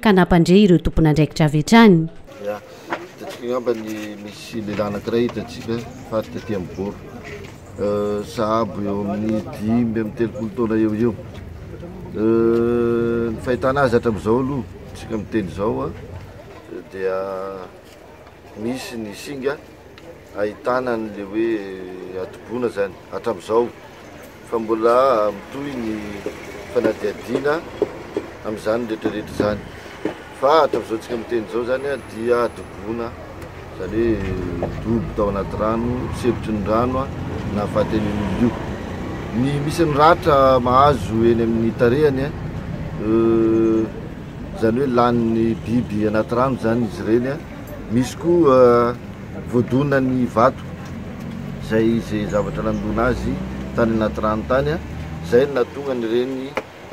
ka nampandre ireo tompon'andraikitra avy hatrany. Ya, hitantsika angamba ny misy lehilahy anankiray hitantsika fa taty amin'ny bord sahabo eo amin'ny dimy amin'ny telopolo taona eo eo. Ny fahitana azy hatramin'izao aloha, tsika miteny izao dia misy ny singa. ahitana an'ilay hoe atoboana izany hatramin'izao fa mbola mitohy ny fanadihadiana amin'izany rehetrarehetra izany fa hatramin'izao tsika miteny izao izany dia atoboana izany hoe dobo tao anaty rano sempotra ny rano nahafaten'ny olona io ny misy ny ratra mahazo eny amin'ny tarehany a euh, izany hoe lanin'ny biby anaty rano izany izy ireny a Misy koa voadona ny vato izay izay zavatra nandoana azy tany anaty rano tany a! Izay no nahatonga an'ireny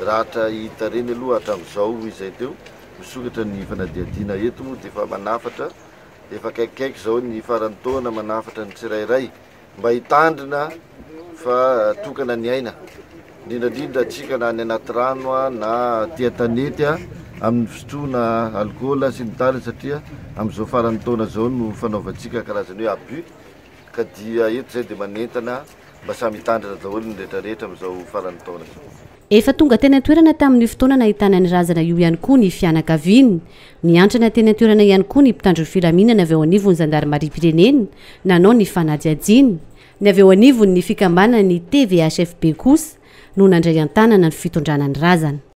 ratra hita ireny aloha hatramin'izao izay teo, misokatra ny fanadihadiana eto moa dia efa manafatra, efa akaikikaiky izao ny faran'ny taona manafatra ny tsirairay. mba hitandrina fa tokana ny aina, indrindra indrindra antsika na any anaty rano na aty an-tanety amin'ny fisotroana alikaola sy ny tariny satria amin'izao faran'ny taona izao no fanaovantsika karazany hoe abus ka dia eto izay dia manentana mba samy hitandrina daholo ny rehetra rehetra amin'izao faran'ny taona izao. Efa tonga teny an-toerana tamin'io fotoana nahitana ny razana io ihany koa ny fianakaviany. Niantrana teny an-toerana ihany koa ny mpitandro ny filaminana avy ao anivon'ny zandarimariam-pirenena nanao ny fanadihadiana. Ny avy eo anivon'ny fikambanan'ny TVHFB kosa no nandray an-tanana ny fitondrana ny razana.